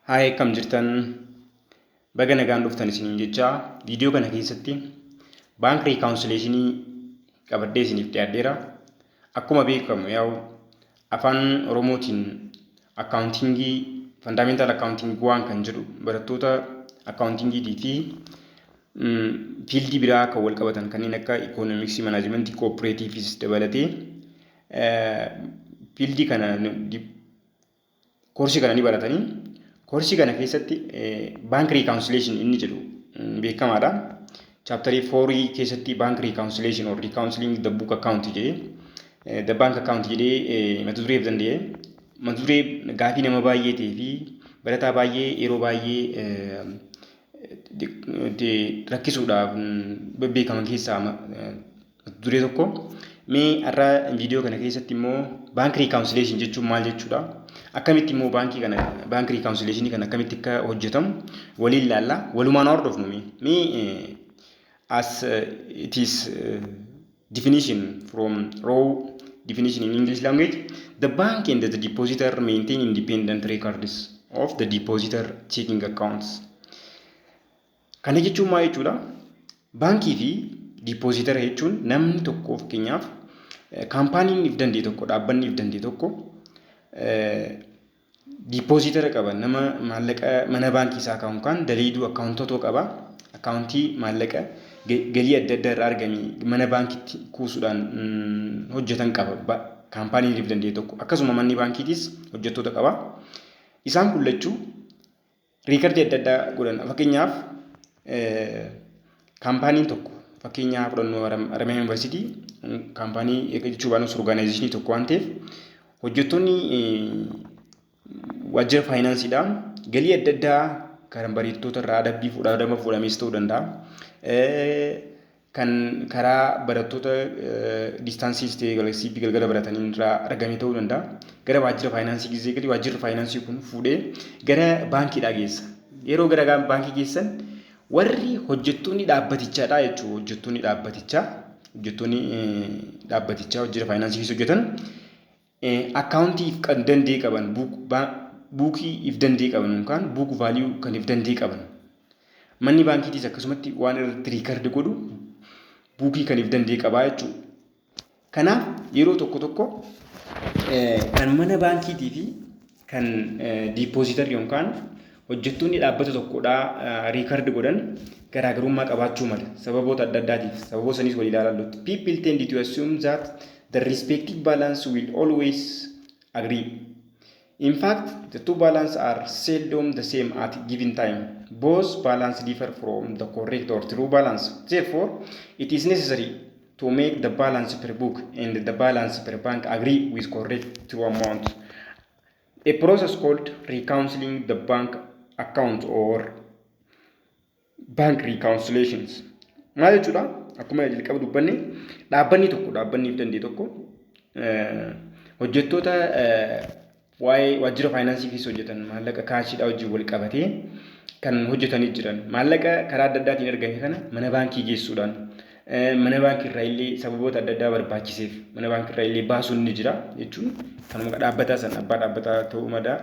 Haay akkam jirtan baga nagaan dhuftan isiniin jechaa viidiyoo kana keessatti baank riikaawunsileeshinii qabadhee isiniif dhiyaadheera. Akkuma beekamu yaa'u afaan Oromootiin akkaawuntingii fandaameental akkaawuntingii waan kan jedhu barattoota akkaawuntingiitii fi fiildii biraa kan wal qabatan kanneen akka ikoonomiksii manaajimentii kooppireetiivis dabalatee fiildii kana koorsii kana ni baratanii koorsii kana keessatti baank riikaawunsileeshin inni jedhu beekamaadha. Chaaptarii foorii keessatti baank riikaawunsileeshin or riikaawunsiliing the book account jedhee the bank account jedhee mata dureef danda'e mata duree gaafii nama baay'ee ta'ee fi barataa baay'ee yeroo baay'ee rakkisuudhaaf beekaman keessaa Mata duree tokko mee har'a viidiyoo kana keessatti immoo baankii riikaawunsileeshin jechuun maal jechuudha? Akkamitti immoo baankii kana baankii riikaawunsileeshinii kana akkamitti akka hojjetamu waliin ilaalla. Walumaan hordofnu mee mee as it is definition from raw definition in English language the bank and the depositor maintain independent records of the depositor checking accounts Kana jechuun maal jechuudha? Baankii fi diippoozitara jechuun namni tokko fakkeenyaaf kaampaaniin if danda'e tokko dhaabbanni if danda'e tokko diippoozitara qaba nama maallaqa mana baankii isaa kaa'u kan daleeduu akkaawuntotoo qaba akkaawuntii maallaqa galii adda addaa irraa argame mana baankiitti kuusuudhaan hojjetan qaba kaampaaniin if danda'e tokko akkasuma manni baankiitis hojjettoota qaba isaan kun lachuu Riikardii adda addaa godhan fakkeenyaaf kaampaaniin tokko fakkeenyaa fudhannoo Haramaya Yuunivarsiitii kaampaanii jechuu baanus orgaanaayizeshinii tokko waan ta'eef hojjettoonni waajjira faayinaansiidhaan galii adda addaa kan bareeddoota irraa adabbii fuudhaa adaba fuudhamees ta'uu danda'a. kan karaa barattoota distaansii ta'ee galasiipi galgala baratanii irraa argame ta'uu danda'a. Gara waajjira faayinaansii gizee gali waajjirri faayinaansii kun fuudhee gara baankiidhaa geessa. Yeroo gara baankii geessan warri hojjettoonni dhaabbatichaadha jechuudha. Hojjettoonni dhaabbatichaa hojjettoonni dhaabbatichaa hojjira faayinaansii keessa hojjetan Account if kan dandee qaban book buukii if dandee qaban yookaan book value kan if dandee qaban manni baankiitiis akkasumatti waan irratti riikard godhu buukii kan if dandee qabaa jechuudha. Kanaaf yeroo tokko tokko kan mana baankiitii fi kan diipooziitarri yookaan hojjettoonni dhaabbata tokkodhaa riikard godhan garaagarummaa qabaachuu mala sababoota adda addaatiif sababoo saniis wal ilaalallutti people tend to assume that the respective balance will always agree in fact the two balance are seldom the same at given time both balance differ from the correct or true balance therefore it is necessary To make the balance per book and the balance per bank agree with correct true amount. A process called reconciling the bank account or bank reconciliations. Maal jechuudha? Akkuma jalqaba dubbanne dhaabbanni tokko dhaabbanni dandee tokko hojjettoota Waa'ee waajjira faayinaansii keessa hojjetan maallaqa kaashiidhaa wajjin wal qabatee kan hojjetanii jiran maallaqa karaa adda addaatiin argame kana mana baankii geessuudhaan mana baankii irraa illee sababoota adda addaa barbaachiseef mana baankii irraa illee baasuun ni jira jechuun kanuma dhaabbataa san abbaa dhaabbataa ta'uu madaa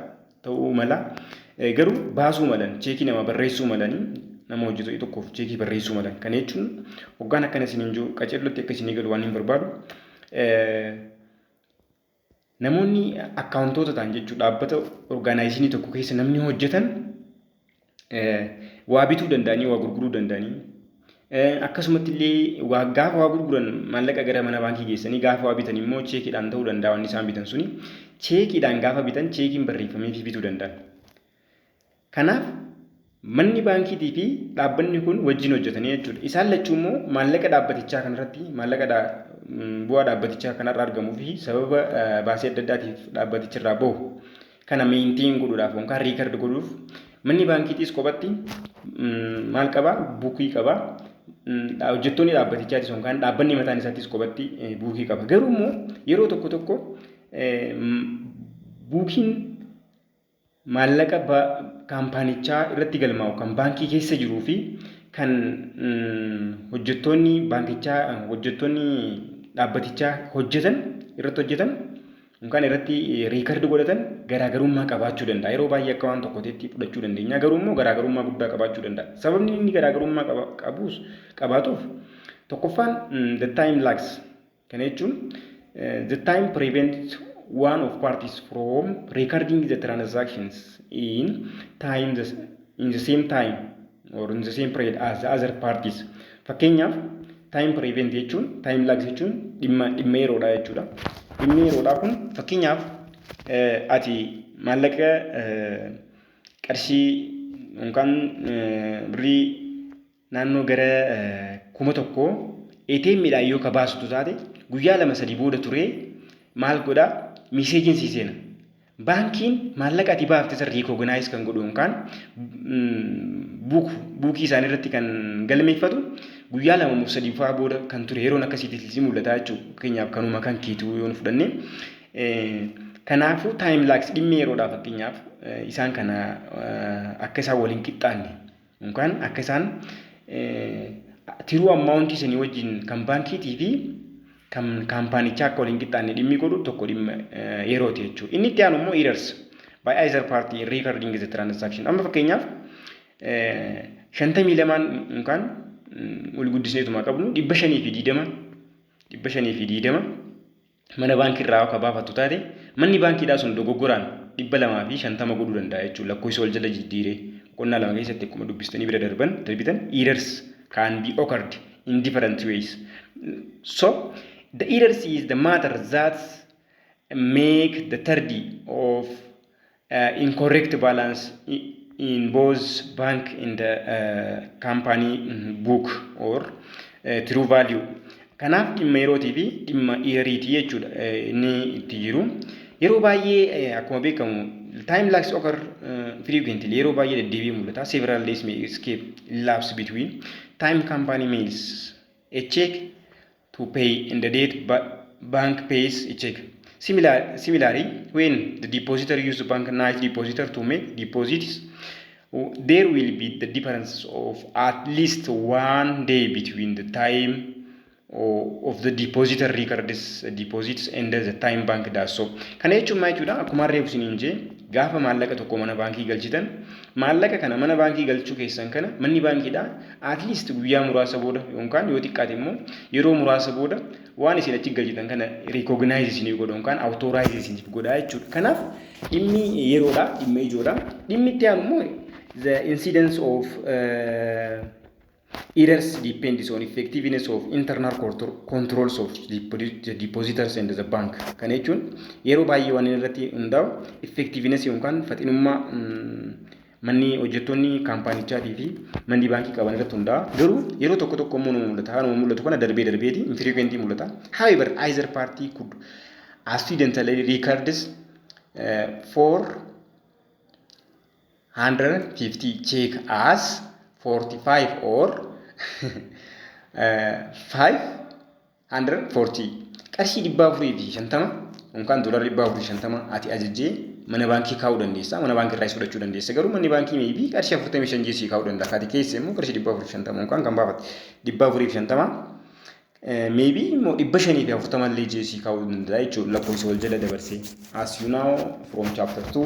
ta'uu mala garuu baasuu malan cheekii nama barreessuu malanii nama hojjetu tokkoof cheekii barreessuu malan kana jechuun hoggaan akkana isiniin jiru qaceellotti akka isinii galu waan hin barbaadu Namoonni akkaawuntoota ta'an jechuun dhaabbata orgaanaayizinii tokko keessa namni hojjetan waa bituu danda'anii waa gurguruu danda'anii akkasumatti illee waa gaafa waa gurguran maallaqa gara mana baankii geessanii gaafa waa bitan immoo cheekiidhaan ta'uu danda'a wanni isaan bitan suni cheekiidhaan gaafa bitan cheekiin barreeffamee fi bituu danda'an. Kanaaf manni baankiitii fi dhaabbanni kun wajjin hojjetanii jechuudha. Isaan lachuu immoo maallaqa dhaabbatichaa kanarratti maallaqa dha, bu'aa dhaabbatichaa kanarra argamuu fi sababa baasii adda addaatiif dhaabbaticharraa bahu kana meentiin godhuudhaaf yookaan riikard godhuuf manni baankiitiis kophatti maal qaba buukii qaba hojjettoonni dhaabbatichaatis yookaan dhaabbanni mataan isaattis kophatti buukii qaba. Garuu immoo yeroo tokko tokko buukiin Maallaqa kaampaanichaa irratti galmaa'u kan baankii keessa jiruu fi kan hojjettoonni baankichaa hojjettoonni dhaabbatichaa hojjetan irratti hojjetan yookaan irratti riikardi godhatan garaagarummaa qabaachuu danda'a. Yeroo baay'ee akka waan tokkoteetti fudhachuu dandeenya. Garuu immoo garaagarummaa guddaa qabaachuu danda'a. Sababni inni garaagarummaa qabuus qabaatuuf tokkoffaan the time lags Kana jechuun the time prevents one of parties from recording the transactions in time the, in the same time or in the same period as the other parties. Fakkeenyaaf time prevent jechuun time lags jechuun dhimma dhimma yeroodha jechuudha. Dhimmi yeroodhaa kun fakkeenyaaf ati maallaqa qarshii yookaan birrii naannoo gara 1000 ATM dhaan yoo ka baasitu taate guyyaa 2 3 booda turee maal godha miseejiin sii seena baankiin maallaqa ati baafte san recognise kan godhu yookaan buuk buukii isaanii irratti kan galmeeffatu guyyaa 2 moo 3 faa booda kan ture yeroon akkasiitti sii mul'ata jechuudha fakkeenyaaf kanuma kan keetuu yoo nu fudhanne kanaafuu time lags dhimmi yeroodhaa fakkeenyaaf isaan kana akka isaan waliin qixxaanne Yookaan akka isaan tiruu ammaawuntii sanii wajjin kan baankiitii fi kan kaampaanichaa akka waliin qixxaanne dhimmi godhu tokko dhimma yerooti jechuudha. Inni itti aanu immoo errors by either party in recording the transaction. Amma fakkeenyaaf shantamii lamaan yookaan wal guddisneetuma qabnu dhibba shanii fi diidama dhibba shanii fi diidama mana baankii irraa akka baafattu taate manni baankiidhaa sun dogoggoraan dhibba lamaa fi shantama godhuu danda'a jechuudha lakkoofsa wal jala jijjiiree boqonnaa lama keessatti akkuma dubbistanii bira darban darbitan errors can be occurred in different ways so the errors is the matter that make the tardy of Incorrect balance in both bank and company book or true value. Kanaaf dhimma yerootii fi dhimma yeariitii jechuudha inni itti jiru. Yeroo baay'ee akkuma beekamu time lags occur frequently yeroo baay'ee deddeebi'ee mul'ata. Several days may escape lapse between time company mails a check to pay in the date ba bank pays a check. Similar, similarly, when the depositor use bank night depositor to make deposits, there will be the difference of at least one day between the time of the depositor records deposits and the time bank does so. Kana jechuun maal jechuudha? Akkuma reefu isiniin jee gaafa maallaqa tokko mana baankii galchitan maallaqa kana mana baankii galchuu keessan kana manni baankiidha at least guyyaa muraasa booda yookaan yoo xiqqaate immoo yeroo muraasa booda waan isin achi galchitan kana recognize isinii godha yookaan authorize isiniif godha jechuudha. Kanaaf dhimmi yeroodha, dhimma ijoodha. Dhimmi itti aanu immoo the incidence of uh, errors depends on effectiveness of internal contro- controls of depo- the depositors and the bank. Kana jechuun yeroo baay'ee waan inni irratti hundaa'u effectiveness yookaan faxinummaa mm, Manni hojjettoonni kaampaanichaatii fi manni baankii qaban irratti hundaa'a. Garuu yeroo tokko tokko immoo nama mul'ata. Haaluma mul'atu kana darbee darbeeti infrequently mul'ata. However, either party could accidentally records uh, 450 check as 45 or uh, 5 140 qarshii 450 yookaan doolar 450 ati ajajjee mana baankii kaa'uu dandeessa. Mana baankii irraas fudhachuu dandeessa. Garuu manni baankii meebii qarshii 45 jee sii kaa'uu danda'a. Kaati keessa immoo qarshii 450 yookaan kan baafate 450 meebii immoo 540 illee jee sii kaa'uu danda'a jechuudha. Lakkoofsa wal jala dabarsee. As you know from chapter 2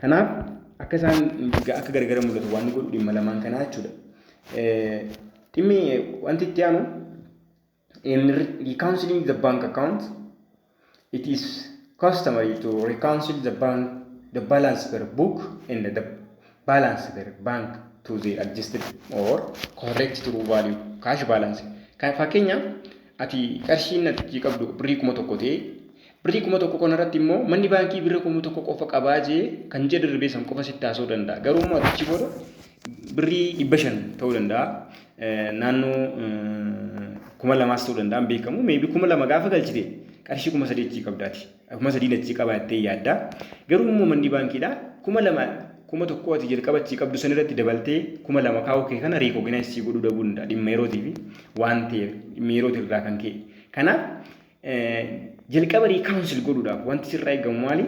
Kanaaf akka isaan akka gargara mul'atu waan godhu dhimma lamaan kanaa jechuudha. Dhimmi wanti itti aanu in reconciling the bank account it is customary to reconcile the bank the balance per book and the balance their bank to the adjusted or correct true value cash balance. Kan fakkeenyaaf ati qarshiin natichi qabdu birrii kuma tokko ta'e birrii kuma tokko kana irratti immoo manni baankii birrii kuma tokko qofa qabaa jee kan ija darbee san qofa sitti haasa'uu danda'a. Garuu immoo atichi booda birrii dhibba shan ta'uu danda'a. Naannoo kuma lamaas ta'uu danda'a hin beekamu. Meebii kuma lama gaafa galchite qarshii kuma sadii achii qabdaati. kuma sadiin achii qabaa jettee yaadda. Garuu immoo manni baankiidha kuma lama kuma tokko ati jalqaba achii qabdu san irratti dabaltee kuma lama kaa'uu kee kana riikooginaayis sii godhuu dhabuu danda'a dhimma yerootii fi waan ta'eef dhimma yerootii irraa kan ka'e. Kanaaf jalqaba riikaawunsil godhuudhaaf wanti sirraa eegamu maali?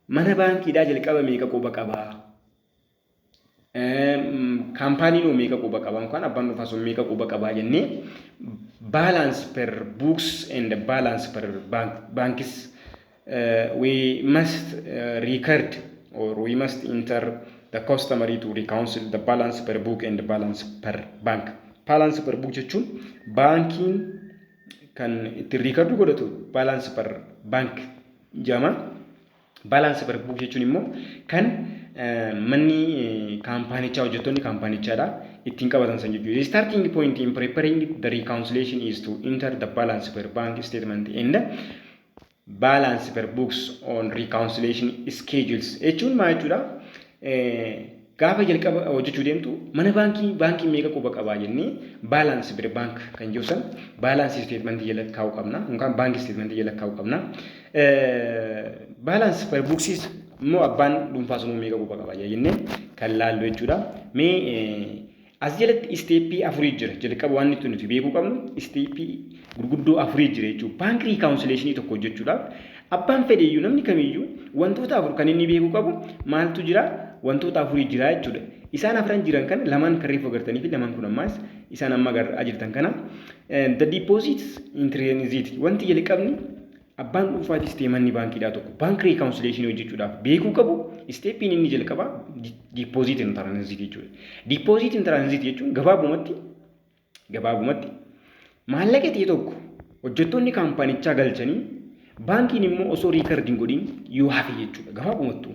Mana baankiidhaa jalqaba meeqa quba qabaa? kaampaaniin hoo meeqa quba qaba yookaan abbaan dhuunfaa sun meeqa quba qabaa jennee balance per books and balance per bank, banks uh, we must uh, record or we must enter the customary to reconcile the balance per book and balance per bank. Balance per book jechuun baankiin kan ittiin riikardii godhatu balance per bank jama. Balance per book jechuun immoo kan manni kaampaanichaa hojjettoonni kaampaanichaadha ittiin qabatan san jechuudha. The starting point in preparing the reconciliation is to enter the balance per bank statement and balance per books on reconciliation schedules jechuun maal jechuudha? Gaafa jalqaba hojjechuu deemtu mana baankii baankiin meeqa quba qabaa jennee balance bir bank kan jiru san balance statement jala kaa'uu qabna yookaan bank statement jala kaa'uu qabna. Balance per booksis immoo abbaan dhuunfaa sunuu meeqa quba qabaa jira jennee kan laallu jechuudha. Mee As jalatti isteeppii afurii jira. Jalqaba waan nuti nuti beekuu qabnu isteeppii gurguddoo afurii jira jechuudha. Baank riikaawunsileeshinii tokko hojjechuudhaaf abbaan fedheeyyuu namni kamiyyuu wantoota afur kan inni beekuu qabu maaltu jira wantoota afurii jira jechuudha. Isaan afran jiran kana lamaan kan reefu agartanii fi lamaan kun ammaas isaan amma agarra jirtan kana. The deposits intrinsic wanti jalqabni Abbaan dhuunfaatis ta'e manni baankiidhaa tokko baank riikaawunsileeshinii hojjechuudhaaf beekuu qabu isteeppiin inni jalqabaa diippoozit hin tiraanziit jechuudha. Diippoozit hin tiraanziit jechuun gabaabumatti gabaabumatti maallaqa ta'e tokko hojjettoonni kaampaanichaa galchanii baankiin immoo osoo riikardi hin godhin yoo hafe jechuudha gabaabumattuu.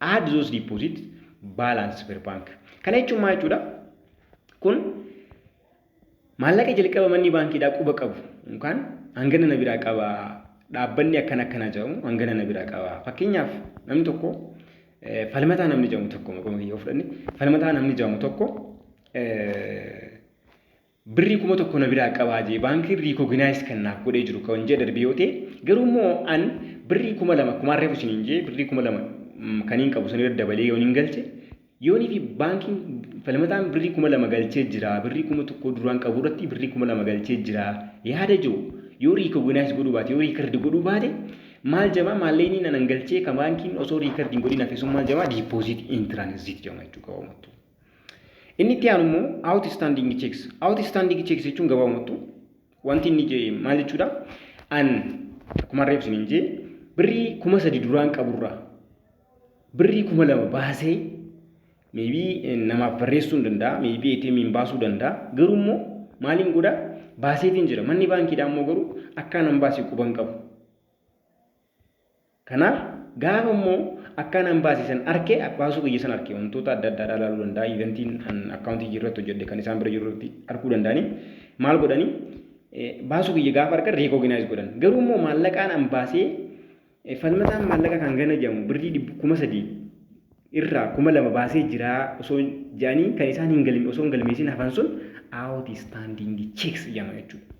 Add those deposit balance per bank. Kana jechuun maal jechuudha? Kun maallaqa jalqaba manni baankiidhaa quba qabu yookaan hangana na biraa qaba dhaabbanni akkana akkanaa jedhamu hangana na biraa qaba. Fakkeenyaaf namni tokko falmataa namni jedhamu tokko maqaa kiyya yoo fudhanne falmataa namni jedhamu tokko Birrii kuma tokko na biraa qabaa jee baankiin recognize kan naaf godhee jiru kan ji'a darbee yoo ta'e garuu immoo an birrii kuma lama kumaan reefu isiniin jee birrii kuma lama kaniin qabu san irra dabalee yoon hin galche yoonii fi baankiin falmataan birrii kuma lama galchee jira birrii kuma tokko duraan qabu irratti birrii kuma lama galchee jira yaada jiru yoo recognize godhuu baate yoo record godhuu baate maal jamaa maalleeyniin anan galchee kan baankiin osoo record hin godhin hafe sun maal jamaa deposit in transit jama jechuu qaba mattuu Inni itti aanu immoo outstanding checks. Outstanding checks jechuun gabaabamattu wanti inni je- maal jechuudha? An akkuma reef isiniin jee birrii kuma sadi duraan qaburraa birrii kuma lama baasee maybe eh, namaaf barreessuu hin danda'a maybe ATM hin baasuu danda'a garuu immoo maaliin godha baaseetiin jira manni baankiidhaa immoo garuu akka nan baase quban qabu Kanaaf gaafa immoo akkaan an baase san arke baasuu kiyya san arke wantoota adda addaa ilaaluu danda'a eventiin an akkaawuntii jirratti hojjedhe kan isaan bira jirurratti arkuu danda'anii maal godhanii baasuu kiyya gaafa arkan reekooginaayiz godhan garuu immoo maallaqaan an baasee falmataan maallaqa kan gana jedhamu birrii dhibbu kuma sadii irraa kuma lama baasee jiraa osoo jedhanii kan isaan hin galme osoo hin galmeessin hafan sun aawuti istaandiingi cheeks jedhama jechuudha.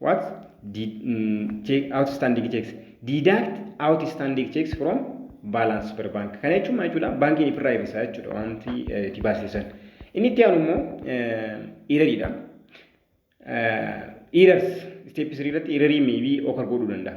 what did mm, check, outstanding checks deduct outstanding checks from balance per bank kana jechuun maal jechuudha baankiin ifirraa hir'isaa jechuudha wanti eh, itti baasisan inni itti aanu immoo irariidha irars step 3 irratti irarii meebii okar godhuu danda'a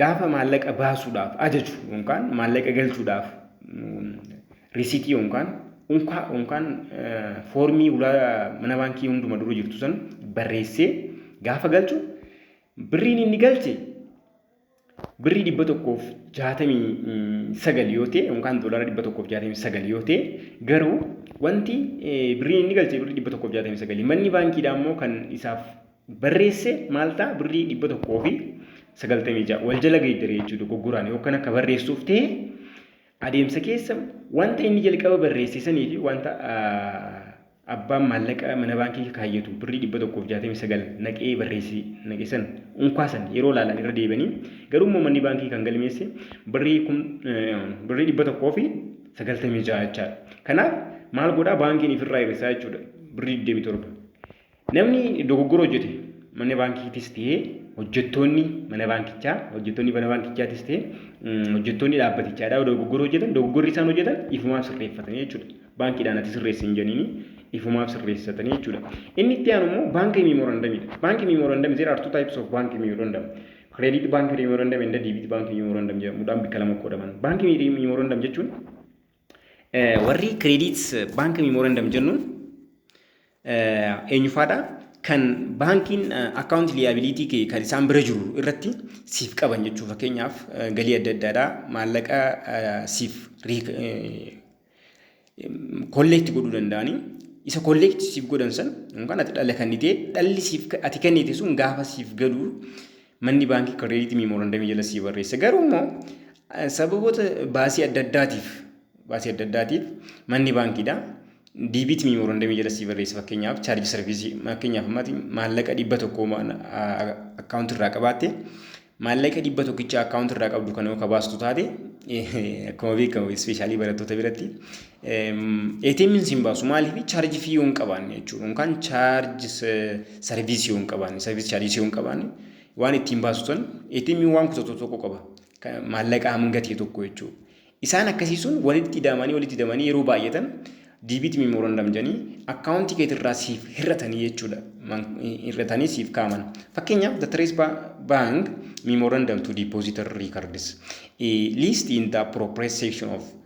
Gaafa maallaqa baasuudhaaf ajaju yookaan maallaqa galchuudhaaf risitii yookaan unkaa yookaan foormii ulaa mana baankii hunduma dura jirtu san barreessee gaafa galchu birriin inni galche birrii dhibba tokkoof jaatamii sagal yoo ta'e yookaan doolaara dhibba tokkoof jaatamii sagal yoo ta'e garuu wanti birriin inni galche birrii dhibba tokkoof jaatamii sagali manni baankiidhaa immoo kan isaaf barreesse maal ta'a birrii dhibba tokkoo fi sagaltamii ja'a wal jala geeddare jechuudha dogoggoraan yookaan akka barreessuuf ta'e adeemsa keessa wanta inni jalqaba barreesse sanii fi wanta abbaan maallaqa mana baankii kaayyatu birrii dhibba tokkoo fi jaatamii sagal naqee barreesse naqe san unkaa san yeroo laalan irra deebanii garuu immoo manni baankii kan galmeesse birrii kun birrii dhibba tokkoo fi sagaltamii ja'a jechaadha. Kanaaf maal godhaa baankiin ifirraa hir'isaa jechuudha birrii digdamii torba. Namni dogoggora hojjete mana baankiitis ta'ee hojjettoonni mana baankichaa, hojjettoonni mana baankichaatis ta'ee mm, hojjettoonni dhaabbatichaadhaa dogoggora hojjetan, dogoggorri isaan hojjetan ifumaaf sirreeffatanii jechuudha. Baankiidhaan ati sirreessi hin jedhanii ifumaaf sirreessatanii jechuudha. Inni itti aanu immoo baankii miimorandamiidha. Baankii miimorandam there are two types of baankii miimorandam. Credit baankii miimorandam and debit baankii miimorandam jedhamuudhaan bakka lama qoodaman. Baankii miimorandam jechuun Warri credit bank memorandum jennuun eenyufaadha? Kan baankiin account liability kee kan isaan bira jiru irratti siif qaban jechuu fakkeenyaaf galii adda addaadha maallaqa siif kolleekti godhuu danda'anii isa kolleekti siif godhan san yookaan ati dhala kennitee dhalli siif ati kennite sun gaafa siif galu Manni baankii kireeditii miimoorandamii jala sii barreessa. Garuu immoo sababoota baasii adda addaatiif baasii adda addaatiif manni baankiidha. Diibiitii miimoorandamii jala sii barreessa fakkeenyaaf chaarjii sarviisii fakkeenyaaf ammaati maallaqa dhibba tokko akkaawuntii irraa qabaatte maallaqa dhibba tokkicha akkaawuntii irraa qabdu kana yoo kabaastu taate akkuma beekamu ispeeshaalii barattoota biratti ATM'n siin baasu maaliif charge fee yoo hin qabaanne jechuudha yookaan charge service yoo hin qabaanne service charges yoo hin qabaanne waan ittiin baasu sun ATM'n waan kutatu tokko qaba maallaqa hanga ta'e tokko jechuudha. Isaan akkasii sun walitti ida'amanii walitti ida'amanii yeroo baay'atan diibiit memorandum jedhanii akkaawuntii keetirraa siif hir'atanii jechuudha hir'atanii siif kaaman. Fakkeenyaaf the trace bank memorandum to depositor records list in the appropriate section of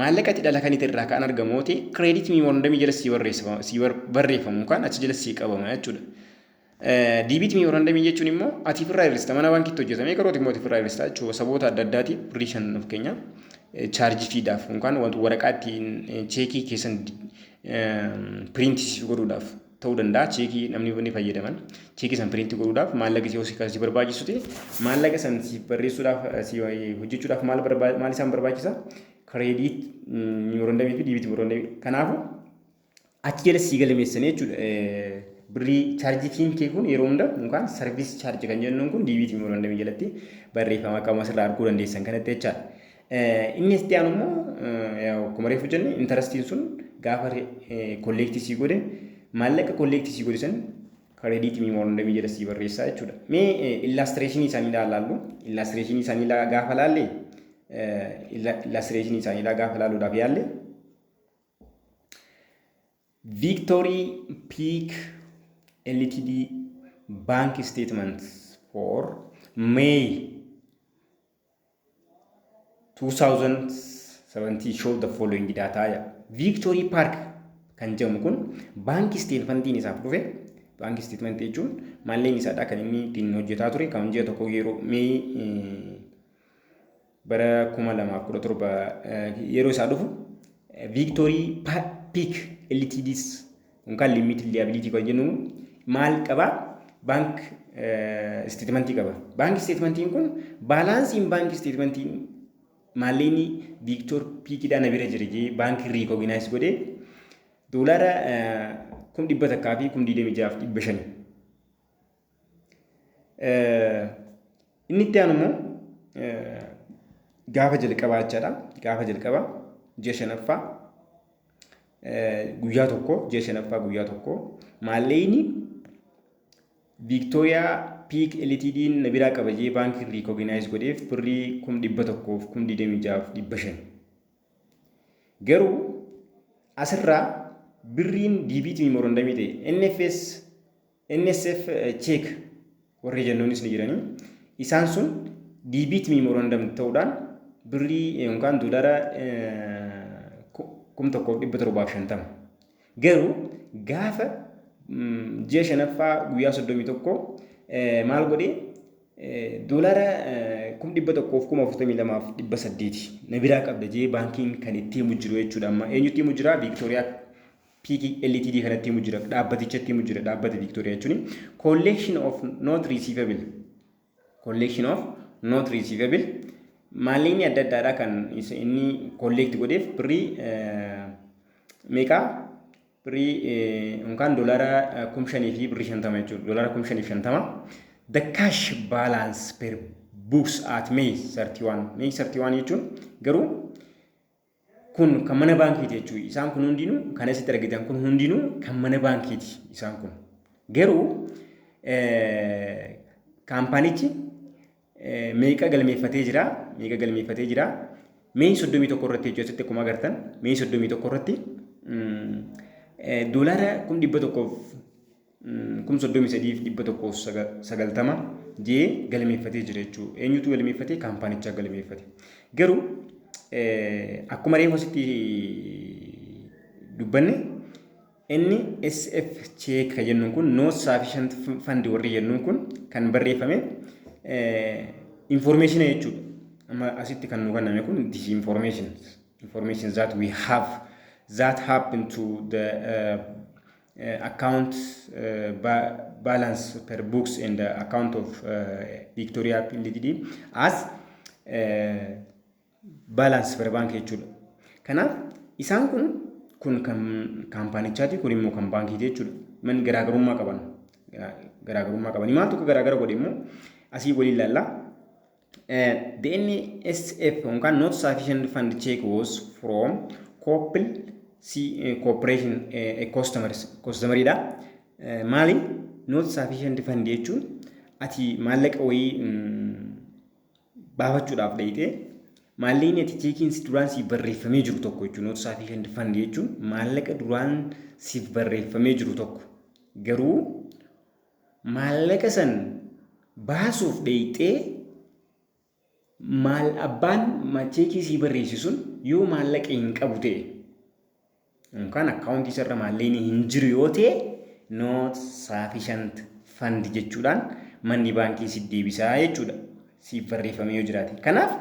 Maallaqa itti dhala kanite irraa kan argamu yoo ta'e credit memorandum jala sii barreeffama sii barreeffamu kan achi jala sii qabama jechuudha. Debit memorandum jechuun immoo ati firraa hir'ista mana baankiitti hojjetame garuu ati immoo ati firraa hir'ista jechuudha. Saboota adda addaatiif birrii shan of keenya chaarjii fiidaaf yookaan waraqaa ittiin cheekii keessan piriintii siif godhuudhaaf ta'uu danda'a cheekii namni inni fayyadaman cheekii san piriintii godhuudhaaf maallaqa si hoosii kan si barbaachisu ta'e maallaqa san si barreessuudhaaf si hojjechuudhaaf maal barbaa- maal isaan barbaachisa kireediit murandamii fi diibiit murandamii kanaafuu achi jala sii galmeessanii jechuudha eh, birrii chaarjii fiin kee kun yeroo hunda yookaan sarviis chaarjii kan jennuun kun diibiit murandamii jalatti barreeffama qaama sirraa arguu dandeessan kanatti jechaadha. Inni itti aanu immoo yaa'u akkuma reefu jenne intarastiin sun gaafa kolleektii sii godhe maallaqa kolleektii sii godhe san kareediitii miimoorandamii jala sii barreessaa jechuudha. Mee illaastireeshinii isaanii ilaallu illaastireeshinii isaanii gaafa laalle illaastireeshinii isaanii gaafa laalluudhaaf yaalle Victory Peak LTD Bank Statement for May 2017 show the following data ya victory park kan jedhamu kun baankii isteetmentiin isaaf dhufe baankii isteetmentii jechuun malleen isaadha kan inni ittiin hojjetaa ture kan ji'a tokko yeroo mee bara 2017 yeroo isaa dhufu victory peak ltds Kun kan limited liability kan jennu maal qaba? Bank statement qaba. Bank statement kun baalaansiin bank statement maallaqni Victor Piikidhaa na bira jira jee baankii riikooginaayiz godhe doolaara kum dhibba takkaa fi kum digdamii jaaf dhibba shani. Inni itti aanu immoo gaafa jalqabaa jechaadha. Gaafa jalqabaa ji'a shanaffaa guyyaa tokko ji'a shanaffaa guyyaa tokko maalleyni Viiktooriyaa Piik Elitiidiin na biraa qaba jee baankiin riikooginaayis godheef birrii kum dhibba tokkoof kum digdamii jaaf dhibba shan. Garuu asirraa birriin diibiitii morondamii ta'e NFS NSF check warri jennuunis ni jiranii isaan sun diibiit miimorandam ta'uudhaan birrii yookaan doolara kum tokkoof dhibba torbaaf shantama. Garuu gaafa ji'a shanaffaa guyyaa soddomii tokko maal godhee doolara kum dhibba tokkoof kuma afurtamii lamaaf dhibba saddeeti na biraa qabda jee baankiin kan itti himu jiru jechuudha amma eenyutti himu jira viiktooriyaa PG, LTD kanatti himu jira dhaabbatichatti himu jira dhaabbata Victoria jechuun collection of not receivable collection of not receivable maalleenyi adda addaadha kan isa inni collect godheef birrii meeqa birrii yookaan doolaara kum shanii fi birrii shantama jechuudha doolaara kum shanii fi shantama the cash balance per books at May 31 May 31 jechuun garuu Kun kan mana baankiiti jechuudha. Isaan kun hundinuu kan asitti argitan kun hundinuu kan mana baankiiti isaan kun. Garuu kaampaanichi meeqa galmeeffatee jira meeqa galmeeffatee jira mee 31 irratti jechuudha asitti akkuma agartan mee 31 irratti doolaara 100,000 33,190 jee galmeeffatee jira jechuudha. Eenyutu galmeeffate? Kaampaanichaa galmeeffate. Garuu akkuma reefu asitti dubbanne inni SF cheek kan jennuun kun no sufficient fund warri jennuun kun kan barreeffame information jechuudha. Amma asitti kan nu kenname kun this information information that we have that happen to the uh, account ba balance per books and uh, account of uh, Victoria Ltd as uh, balance per bank jechuudha. Kanaaf isaan kun kun kan kaampaanichaati kun immoo kan baankiiti jechuudha. Man garaagarummaa qaban garaagarummaa qabanii maal tokko garaagara godhe immoo asii waliin ilaalla. Uh, the NSF on can not sufficient fund check was from Coppel C uh, Corporation uh, customers customer dha. Uh, maali not sufficient fund jechuun ati maallaqa wayii mm, baafachuudhaaf dhayxee maallaqni ati cheekiin si duraan siif barreeffamee jiru tokko jechuun not sufficient fund jechuun maallaqa duraan siif barreeffamee jiru tokko garuu maallaqa san baasuuf dheeyxee maal abbaan macheekii sii barreessi sun yoo maallaqa hin qabu ta'e yookaan akkaawuntii isarra maallaqni hin jiru yoo ta'e not sufficient fund jechuudhaan manni baankii siif deebisaa jechuudha siif barreeffamee yoo jiraate. Kanaaf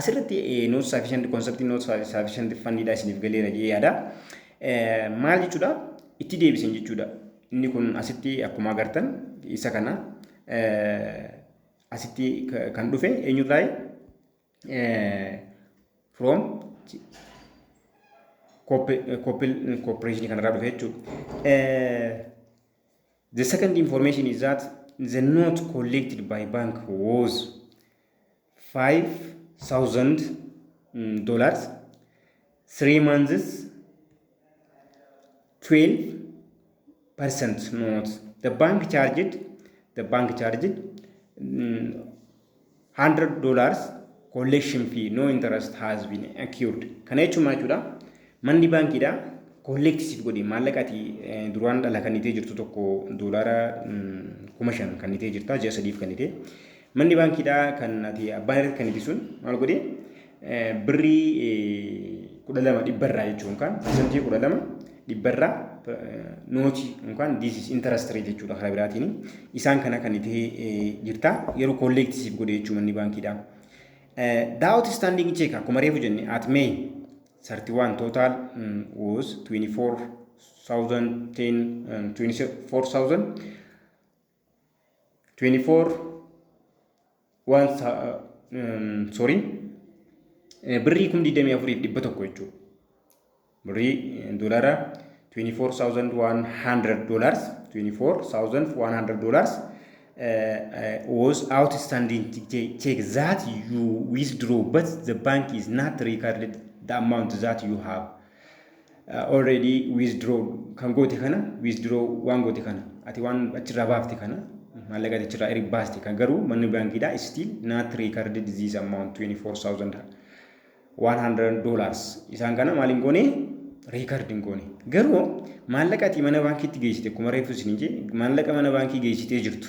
asirratti not sufficient concept not sufficient fund dha isiniif galeera jedhee yaada. Maal jechuudha? Itti deebisan jechuudha. Inni kun asitti akkuma agartan isa kana asitti kan dhufe eenyurraayi? From corporation kanarraa dhufe jechuudha. The second information is that the note collected by bank was 5000 dollars 3 months 12 percent not the bank charged the bank charged mm, 100 dollars collection fee no interest has been accrued kana jechuun maal jechuudha manni baankiidha collect siif godhe maallaqa ati eh, duraan dhala kannitee jirtu tokko doolaara mm, kuma shan kannitee jirta ji'a sadiif kannitee Manni baankiidhaa kan ati abbaan irratti kan ibisun maal godhee birrii kudha lama dhibbarraa jechuun yookaan parsantii kudha lama dhibbarraa nootii yookaan diisis intarastii ree jechuudha karaa biraatiin isaan kana kan itti jirta yeroo kolleekti siif godhe jechuun manni baankiidhaa. Daawwati istaandiingi cheek akkuma reefu jenne at mee 31 total was 24,010 24,000 24 waan sorry birrii kum 24 fi dhibba tokko jechuudha. Birrii doolaara 24,100 dollars 24,100 dollars was outstanding check that you withdraw but the bank is not recorded the amount that you have already withdraw kan goote kana withdraw waan goote kana ati waan achirraa baafte kana maallaqa ati achirraa erga baaste kan garuu manni baankiidhaa still not recorded this amount 24,100 dollars isaan kana maaliin goone record hin goone garuu maallaqa ati mana baankiitti geessite akkuma reefu isin hin jee maallaqa mana baankii geessitee jirtu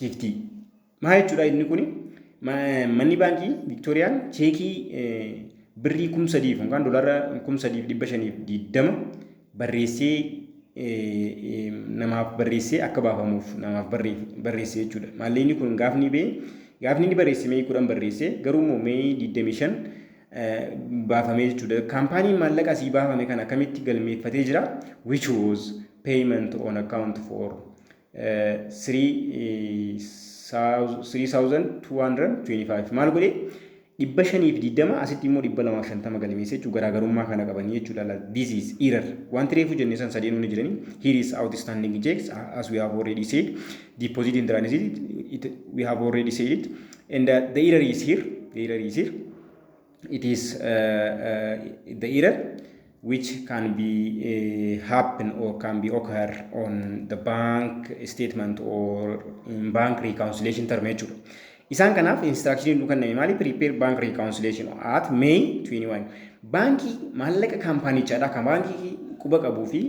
Hiiktii. Maa jechuudha inni kuni manni baankii Viktooriyaan cheekii birrii kum sadiif yookaan doolaara kum sadiif dhibba shaniif diddama barreessee namaaf barreessee akka baafamuuf namaaf barreesse jechuudha. Maallee inni kun gaafni bee gaafni inni barreesse mee kudhan barreesse garuu immoo mee digdamii shan baafamee jechuudha. Kaampaaniin maallaqa asii baafame kan akkamitti galmeeffatee jira? Which was payment on account for 3225 maal godhe dhibba shanii fi digdama asitti immoo dhibba lamaa fi shantama galmeessa jechuun garaagarummaa kana qabanii jechuudha laal this is error wanti reefu jenne san sadeen hundi jiranii here is outstanding checks as we have already said deposit in transit it, we have already said it and uh, the error is here the error is here it is uh, the error which can be uh, happen or can be occur on the bank statement or in bank reconciliation term jechuudha. Isaan kanaaf instruction nu kenname maali prepare bank reconciliation at May 21. Baankii maallaqa kaampaanichaadha kan baankii quba qabuu fi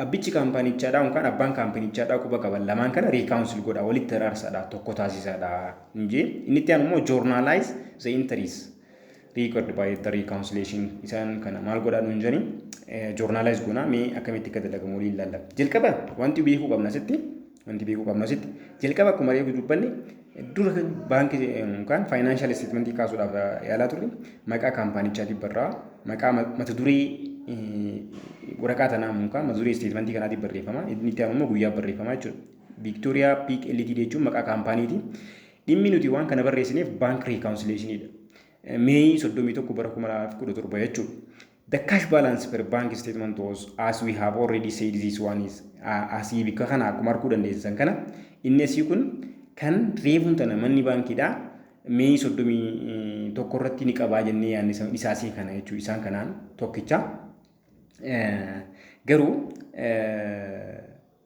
abbichi kaampaanichaadha yookaan abbaan kaampaanichaadha quba qaban lamaan kana reconcile godha walitti araarsaadha tokko taasisaadha. hin jee inni itti aanu immoo journalize the entries record by the reconciliation isaan kana maal godhaa nuun jedhanii journalize goonaa mee akkamitti akka dalagamu waliin ilaalla jalqaba wanti beekuu qabna asitti wanti beekuu qabna asitti jalqaba akkuma reefu dubbanne dura baankii yookaan faayinaanshaal isteetmentii kaasuudhaaf yaalaa turre maqaa kaampaanichaati barraa maqaa mata duree waraqaa tanaa yookaan mata duree isteetmentii kanaatiin barreeffama inni itti aanu immoo guyyaa barreeffama jechuudha. Victoria Peak Ltd jechuun maqaa kaampaaniiti. Dhimmi nuti waan kana barreessineef baank riikaawunsileeshiniidha. Meeyii 31 bara 2017 jechuudha. The cash balance per bank statement was as we have already said this one is asii bikka kana akkuma arguu dandeessisan kana inni asii kun kan reefuun tana manni baankiidha. Meeyii 31 irratti ni qabaa jennee yaadne isaa asii kana jechuu isaan kanaan tokkicha. Garuu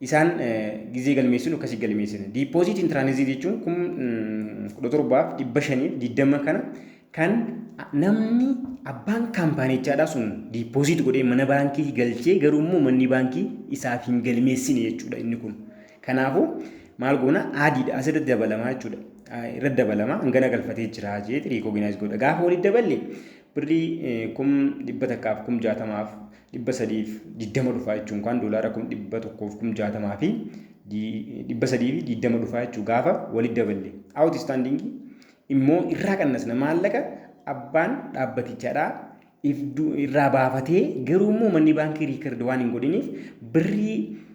Isaan gizee galmeessinu akkasii galmeessina. Diipooziit intiraanizii jechuun kum kudha torbaaf dhibba shaniif digdama kana kan namni abbaan kaampaanichaadhaa sun diipooziit godhee mana baankii galchee garuu immoo manni baankii isaaf hin galmeessine jechuudha inni kun. Kanaafuu maal goona adiidha asirratti dabalamaa jechuudha. Irratti dabalama hangana galfatee jira jeeti riikooginaayiz godha. Gaafa walitti daballe birrii kum dhibba takkaaf kum jaatamaaf 320 dhufaa jechuun kaan doolaara kum 100 fi kum 60 fi 320 dhufaa jechuu gaafa walitti daballe out standing immoo irraa qannasna maallaqa abbaan dhaabbatichaadhaa irraa baafatee garuu immoo manni baankii riikard waan hin godhiniif birrii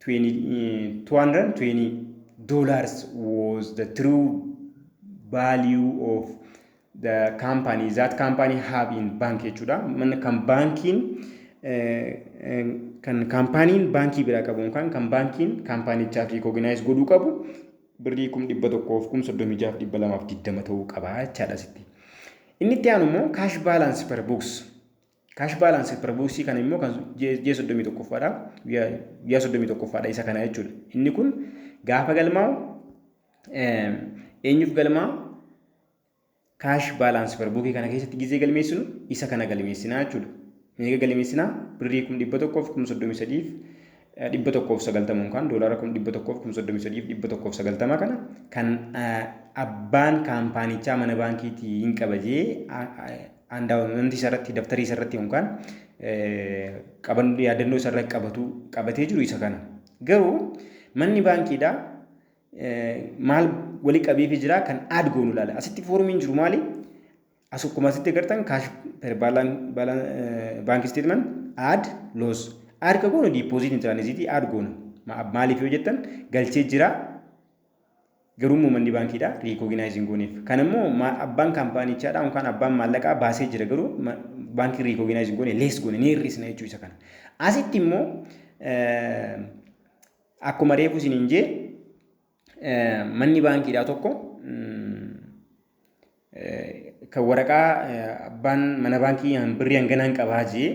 220 dollars was the true value of the company that company have in bank jechuudha. Manni kan baankiin kan kaampaaniin baankii biraa qabu yookaan kan baankiin kaampaanichaaf riikooginaayis godhuu qabu birrii kum dhibba tokkoof kum soddomii jaaf dhibba lamaaf digdama ta'uu qaba jechaadha sitti. Inni itti aanu immoo kaash baalaansi per buuks Kaash baalaansii per booksii kana immoo kan ji'a soddomii tokkoffaadha. Ji'a soddomii tokkoffaadha isa kana jechuudha. Inni kun gaafa galmaa'u eenyuuf galmaa kaash baalaansii per bookii kana keessatti gizee galmeessinu isa kana galmeessinaa jechuudha. Meeqa galmeessinaa? Birrii kum dhibba tokkoof kum soddomii sadiif 190 unkaan doolaara 1,133,190 kana kan abbaan kaampaanichaa mana baankiitii hin qaba jee andaawamamti isarratti daftarii isarratti unkaan qaban yaadannoo isarra qabatu qabatee jiru isa kana garuu manni baankiidhaa maal wali qabeefi jira kan aad goonu ilaala asitti foormiin jiru maali As akkuma asitti agartan kaash per baank isteetment aad loos aad ka goonu diipooziitiin tiraanisiitii aad goona maaliif yoo jettan galchee jira garuu immoo manni baankiidha riikooginaayiziin gooneef kan immoo abbaan kaampaanichaadha yookaan abbaan maallaqaa baasee jira garuu baankii riikooginaayiziin goone lees goone ni hir'isna jechuu isa kana asitti immoo akkuma reefu isiniin jee manni baankiidhaa tokko kan waraqaa abbaan mana baankii birrii hanganaan qabaa jee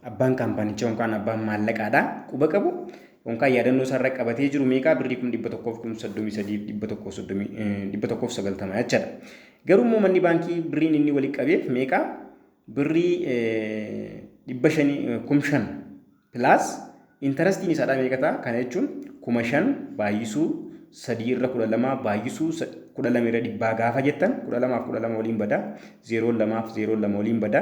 abbaan kaampaanichaa yookaan abbaan maallaqaadhaa quba qabu yookaan yaadannoo isaarra qabatee jiru meeqaa birrii kum dhibba tokkoof kum soddomii sadii dhibba tokkoof soddomii dhibba tokkoof sagaltama jechaadha. Garuu immoo manni baankii birriin inni walitti qabeef meeqaa birrii dhibba shanii kum shan Plus interastiin isaadhaa meeqa ta'a? Kana jechuun kuma shan baay'isuu sadii irra kudha lama baay'isuu kudha lama irra dhibbaa gaafa jettan kudha lamaaf kudha lama waliin bada zeeroon lamaaf zeeroon lama waliin bada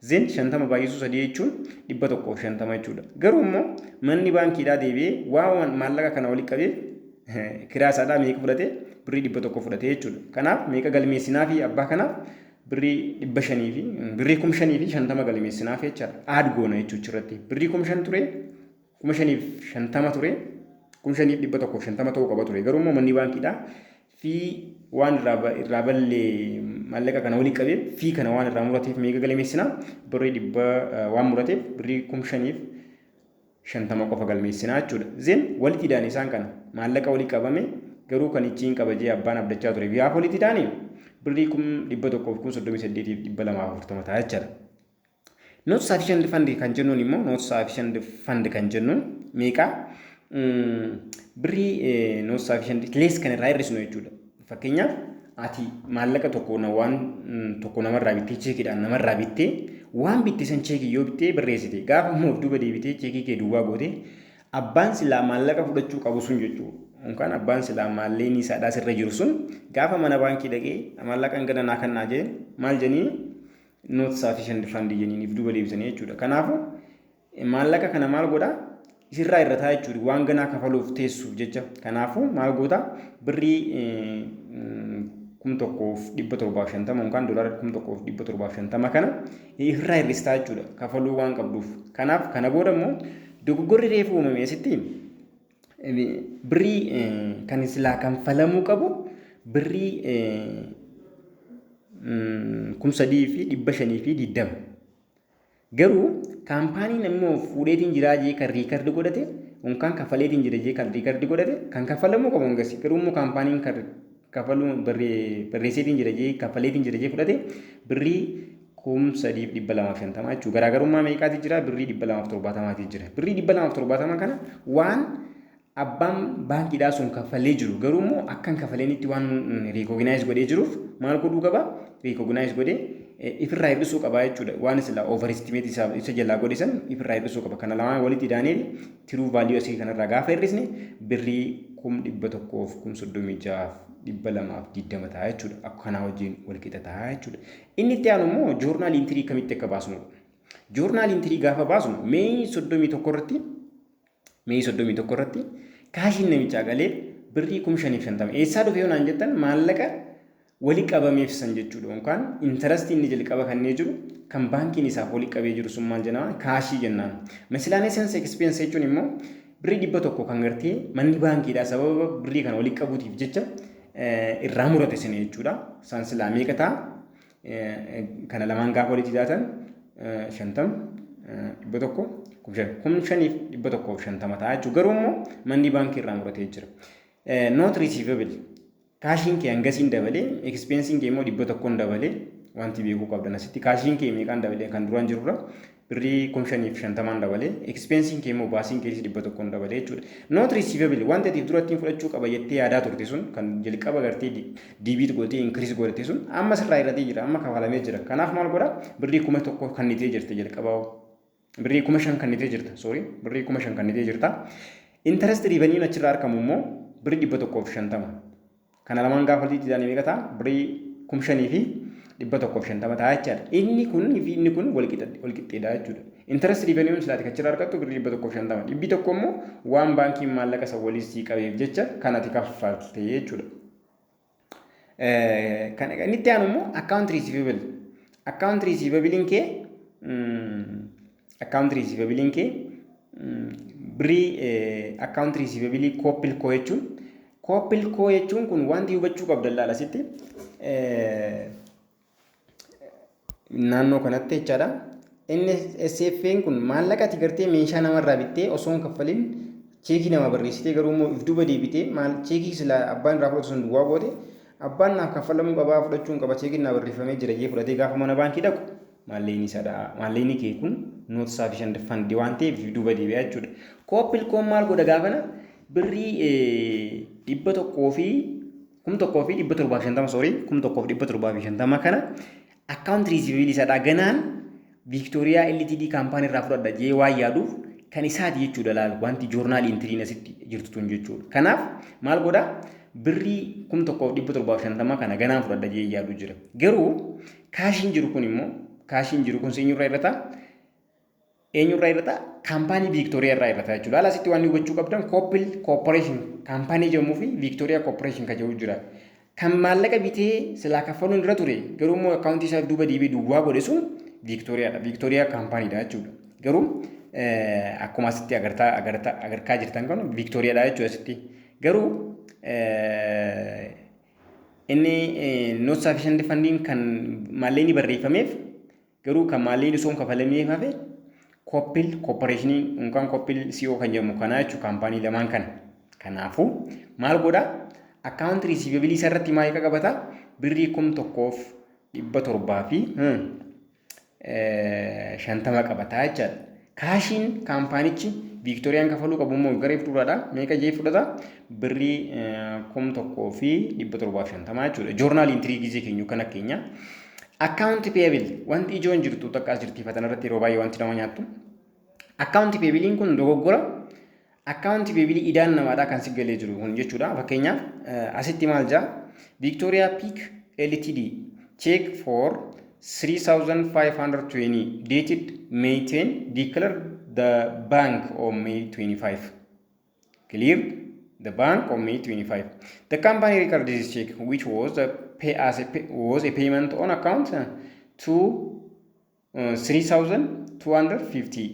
zeen shantama baay'isuu sadii jechuun dhibba tokkoof shantama jechuudha. Garuu immoo manni baankiidhaa deebi'ee waan maallaqa kana walitti qabeef kiraa isaadhaa meeqa fudhate birrii dhibba tokko fudhate jechuudha. Kanaaf meeqa galmeessinaa fi abbaa kanaaf birrii dhibba shanii fi birrii kuma shanii fi shantama galimeessinaaf jecha aad goona jechuudha achirratti birrii kuma shan ture kuma shaniif shantama ture kuma shaniif dhibba tokkoof shantama ta'uu qaba ture garuu immoo manni baankiidhaa fi waan irraa ba- irraa ballee maallaqa kana walitti qabee fi kana waan irraa murateef meeqa galimeessinaa birrii dhibba eh, waan murateef birrii kuma shaniif 50 qofa galmeessinaa jechuudha. Then wali tidaan isaan kana maallaqa wali qabame garuu kan ichiin qaba jee abbaan abdachaa ture biyyaaf wali tidaani birrii kum 100 fi kum 38 fi 240 ta'a jechaadha. Not sufficient fund kan jennuun immoo not sufficient fund kan jennuun meeqa birrii not sufficient less kan irraa hir'isnu jechuudha. Fakkeenyaaf ati maallaqa tokko na waan mm, tokko namarraa bittee cheekiidhaan namarraa bittee waan bitte san cheekii yoo bittee barreessite gaafa immoo of duuba deebitee cheekii kee duwwaa goote abbaan silaa maallaqa fudhachuu qabu sun jechuu yookaan abbaan silaa maalleenii saadhaa sirra jiru sun gaafa mana baankii dhaqee maallaqa hangana naa kannaa jeen maal jeniin not sufficient fund jeniin if duuba deebisanii jechuudha kanaafuu Maallaqa kana maal godhaa? Isirraa hir'ataa jechuudha. Waan ganaa kafaluuf teessuuf jecha. Kanaafuu maal gootaa? Birrii kum tokkoof dhibba torbaaf shantama yookaan doolaara kum tokkoof dhibba torbaaf shantama kana irraa hir'istaa jechuudha kafaluu waan qabduuf. Kanaaf kana booda immoo dogoggorri reefu uumame asitti birrii kan silaa kanfalamuu qabu birrii kum sadii fi dhibba shanii fi digdama. Garuu kaampaaniin namni of fuudheetiin jiraa jee kan riikardi godhate unkaan kaffaleetiin jira jee kan riikardi godhate kan kaffalamuu qabu hangasi garuu immoo kaampaaniin kan kaffaluu barreesseetiin jira jee kaffaleetiin jira jee fudhate birrii kum sadiif dhibba lamaaf shantamaa jechuudha garaagarummaa meeqaati jira birrii dhibba lamaaf torbaatamaati jira birrii dhibba lamaaf torbaatama kana waan Abbaan baankiidhaa sun kaffalee jiru garuu immoo akka hin kafaleenitti waan riikooginaayis godhee jiruuf maal godhuu qaba? Riikooginaayis godhee ifirraa hir'isuu qaba jechuudha. Waan sila oovaristimeetii isaa isa jalaa godhe san ifirraa hir'isuu qaba. Kana lamaan walitti daaneel tiruu vaaliyuu asii kanarraa gaafa hir'isne birrii kum dhibba tokkoof kum soddomii jahaaf dhibba lamaaf digdama ta'a jechuudha. Akka kanaa wajjin wal qixa ta'a jechuudha. Inni itti aanu immoo joornaal intirii akkamitti akka baasnudha. Joornaal intirii gaafa baasnu mee soddomii tokko irratti Mee 31 irratti kaashiin namichaa galee birrii kum shaniif shantama. Eessaa dhufe yoo naan jettan maallaqa wali qabameef san jechuudha. Yookaan intarastii inni jalqaba kannee jiru kan baankiin isaaf wali qabee jiru sun maal jenna kaashii jennaan. Miscellaneous expense jechuun immoo birrii dhibba tokko kan gartee manni baankiidhaa sababa birrii kana wali qabuutiif jecha irraa murate sini jechuudha. Isaan silaa meeqa ta'a? kana lamaan gaafa walitti daatan shantam dhibba tokko kuma shan kuma shaniif dhibba tokkoof shantama ta'a jechuudha. Garuu immoo manni baankii irraa muratee jira. Noot riisiivabili kaashiin kee hangasiin dabalee ekspeensiin kee immoo dhibba tokkoon dabalee wanti beekuu qabdan asitti kaashiin kee meeqaan dabalee kan duraan jirurra birrii kum shanii fi shantamaan dabale expensiin kee immoo baasiin keetis dhibba tokkoon dabale jechuudha not receivable wanti ati durattiin fudhachuu qaba jettee yaadaa turte sun kan jalqaba gartee diibiit gootee inkiriis godhate sun amma sirraa hir'atee jira amma kafalamee jira kanaaf maal godha birrii kuma tokko kannitee jirte jalqabaa birrii kuma shan kannitee jirta soorii birrii kuma shan kannitee jirta intarest riivaniyuun achirraa argamu immoo birrii dhibba tokkoo fi shantama Kana lamaan gaafa walitti daane meeqa ta'a? Birrii kum shanii fi dhibba tokkoo fi shantama ta'a jechaadha. Inni kun fi inni kun walqixxeedha jechuudha. Interest revenue silaati kachirra argattu birrii dhibba tokkoo fi shantama. Dhibbi tokko immoo waan baankiin maallaqa isa waliin sii qabeef jecha kanati kaffalte jechuudha. Kan inni itti aanu immoo account receivable. Account receivable kee Account receivabiliin kee birrii account receivabilii koopil koo jechuun koopil koo jechuun kun wanti hubachuu qabdan laala asitti naannoo kanatti jechaadha. NSFN kun maallaqa ati gartee meeshaa namarraa bittee osoo hin kaffalin cheekii nama barreessitee garuu immoo if duuba deebitee maal cheekii sila abbaan irraa fudhatu sun duwwaa goote abbaan naaf kaffalamuu qabaa fudhachuu hin qaba cheekiin naa barreeffamee jira jee fudhatee gaafa mana baankii dhaqu Maalleyni isadha. Maalleyni kee kun not sufficient fund waan ta'eef duuba deebi'aa jechuudha. Koopilkoon maal godha gaafana birrii dhibba tokkoo fi kum tokkoo fi dhibba torbaa fi shantama soorii kum tokkoo fi dhibba torbaa fi shantama kana akkaawunti riisiiviilii isadha ganaan Viiktooriyaa LTD kaampaanii irraa fudhadha jee waan yaaduuf kan isaati jechuudha laal wanti joornaalii intiriin asitti jirtu tun jechuudha. Kanaaf maal godha birrii kum tokkoo fi dhibba torbaa fi shantama kana ganaan fudhadha jee yaadu jira. Garuu Kaashiin jiru kun immoo kaashiin jiru kun seenyurra irra ta'a. Eenyurra irra ta'a? Kaampaanii Viiktooriyaa irraa irra ta'a jechuudha. Haala asitti waan hubachuu qabdan Koopil Koopporeeshin kaampaanii jedhamuu fi Viiktooriyaa Koopporeeshin kan jedhu jira. Kan maallaqa bitee silaa kaffaluun irra ture garuu immoo akkaawuntii isaa duuba deebi'ee duwwaa godhe sun Viiktooriyaadha. Viiktooriyaa kaampaaniidha jechuudha. Garuu akkuma asitti agartaa agartaa agarkaa jirtan kan Viiktooriyaadha jechuudha asitti. Garuu Inni not sufficient funding kan maallee ni barreeffameef garuu kan maallee osoo hin kafalameef hafe koppil kooppareeshinii yookaan koppil CO kan jedhamu kanaa jechuun kaampaanii lamaan kana. Kanaafuu maal godha akkaawunti riisiivabilii isarratti maal qaqabata birrii kum tokkoof dhibba torbaa fi shantama qabata jechaadha. Kaashiin kaampaanichi Viiktooriyaan kafaluu qabu immoo garee fuulduraadha. Meeqa jee fudhata? Birrii kum tokkoo fi dhibba torbaaf shantamaa jechuudha. Joornaal intirii gizee keenyu kan akka keenya. Akkaawunti peebil wanti ijoon jirtu takka as jirtiifatan irratti yeroo baay'ee wanti nama nyaattu. Akkaawunti peebiliin kun dogoggora Akkaawunti beebilii idaan namaadhaa kan si galee jiru kun jechuudha. Fakkeenyaaf asitti maal jaa Victoria Peak LTD check for 3520 dated May 10 declare the bank on May 25. Clear the bank on May 25. The company record this check which was a pay as a pay, was a payment on account to 3250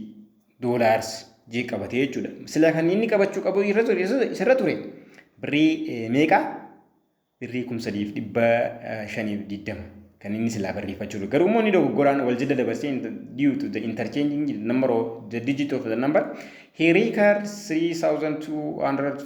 dollars jee qabate jechuudha. Sila kan inni qabachuu qabu irra ture isarra ture birrii meeqa? Birrii 3520 kan inni silaa barreeffachuu ture. Garuu immoo inni dogoggoraan wal jala dabarsee due to the interchanging the number of the digit of the number he recurred 3250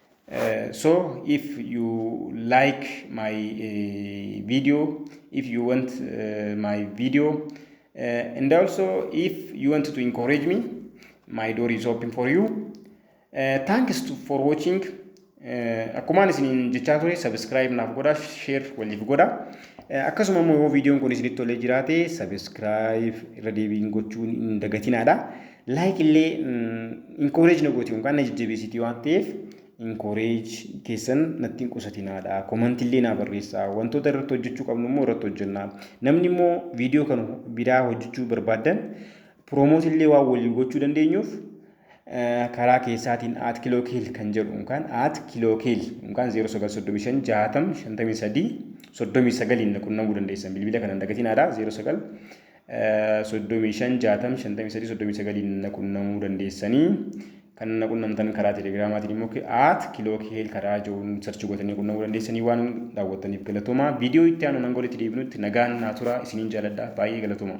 so if you like my video if you want my video and also if you want to encourage me my door is open for you thanks to, for watching akkumaan isiniin jechaa ture sabiskiraayib naaf godha sheer waliif godha akkasuma immoo yoo viidiyoon kun isinitti tolee jiraate sabiskiraayib irra deebiin gochuun hin dagatinaadha. Like illee encourage na gooti yookaan na jajjabeessiti waan ta'eef encourage keessan natti hin qusatinaadha. Comment illee naa barreessaa. Wantoota irratti hojjechuu qabnu immoo irratti hojjenna. Namni immoo viidiyoo kan biraa hojjechuu barbaadan promote illee waan waliin gochuu dandeenyuuf karaa keessaatiin at kilookiil kan jedhu yookaan at kilookiil yookaan 0935 60 53 39 na qunnamuu dandeessan bilbila kana hin dagatinaa dha 09 35 60 53 39 na qunnamuu dandeessanii kan na qunnamtan karaa telegiraamaatiin immoo at kilook heel karaa joon sarchi gootanii qunnamuu dandeessanii waan daawwattaniif galatoomaa viidiyoo itti aanu nan golitti deebinutti nagaan naa turaa isiniin jaaladha baay'ee galatoomaa.